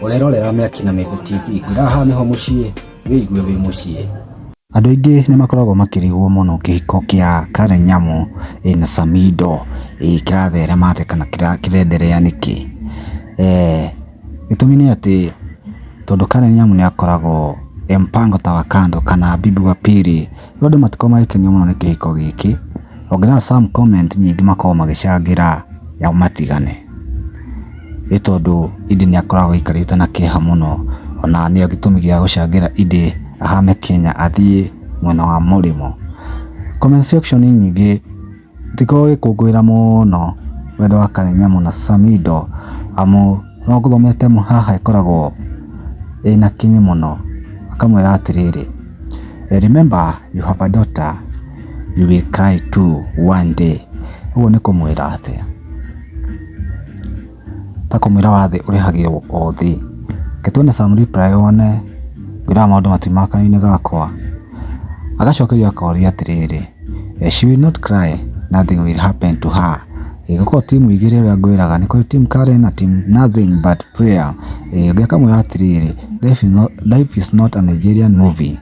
Ũrerorera mĩaki na mĩgũ TV ngwĩra haha nĩho mũciĩ wĩigue wĩ mũciĩ. Andũ aingĩ nĩ makoragwo makĩrigwo mũno kĩhiko kĩa Karen Nyamu eh, na Samido eh, kĩratherema atĩa kana kĩra- kĩrenderea nĩkĩ Eh, gĩtũmi nĩ atĩ tondũ Karen Nyamu nĩ akoragwo e mpango ta wa kando kana bibi wa pili Rĩu andũ matikoragwo magĩkenio mũno nĩ kĩhiko gĩkĩ, ongĩrora some comment nyingĩ makoragwo magĩcangĩra nao matigane, nĩ tondũ Iddĩ nĩ akoragwo aikarĩte na kĩeha mũno, ona nĩyo gĩtũmi gĩa gũcangĩra Iddĩ ahame Kenya athiĩ mwena wa mũrĩmo. Comment section nyingĩ Ndikoragwo ngĩkũngũĩra mũno wendo wa Karinyamũ na Samido amu no ngũthomere ta ĩmwe haha ĩkoragwo ĩna kinyi mũno, akamwĩra atĩrĩrĩ, Remember you have a daughter, you will cry too one day. Ũguo nĩ kũmwĩra atĩa? ta kũmwĩra wathĩ ũrĩhagĩrwo o thĩ. Reke tuone some reply one wĩraga maũndũ matirĩ ma kanua-inĩ gakwa. Agacokerio akorio atĩrĩrĩ, she will not cry, nothing will happen to her. Ĩĩ gũkorwo ti mũigĩre ũrĩa ngwĩraga, nĩ kũrĩ team Karen na team nothing but prayer. Ĩĩ ũngĩ akamwĩra atĩrĩrĩ, life is not a Nigerian movie.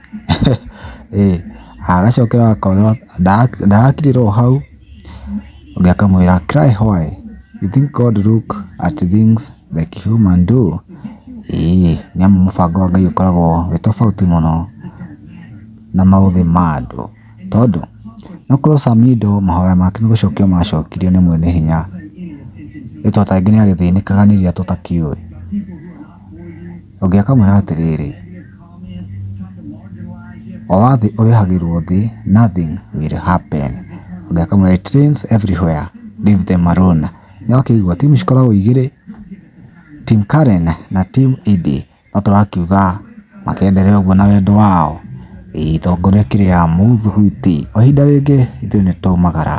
Ĩĩ agacokera akoywo, ndarakirĩra o hau. Ũngĩ akamwĩra cry why? You think God look at things like human do? Ĩĩ, nĩ amu mũbango wa Ngai ũkoragwo wĩ tofauti mũno na maũthĩ ma andũ. Tondũ, no ũkorwo Samindo mahoya make nĩ gũcokio macokirio nĩ Mwene Hinya, ĩĩ to tarĩngĩ nĩ agĩthĩnĩkaga nĩ iria tũtakĩũĩ. Ũngĩ akamwĩra atĩrĩrĩ, O wathi ũrĩhagĩrwo thĩ, nothing will happen. Ũngĩ akamwĩra it rains everywhere, leave them alone. Nĩ wakĩigua timu cikoragwo igĩrĩ, team Karen na team Eddy. No tũrakiuga makĩenderee na ũguo na wendo wao. Itongoria kĩrĩa mũthugwiti. O ihinda rĩngĩ ithuĩ nĩ twaumagara.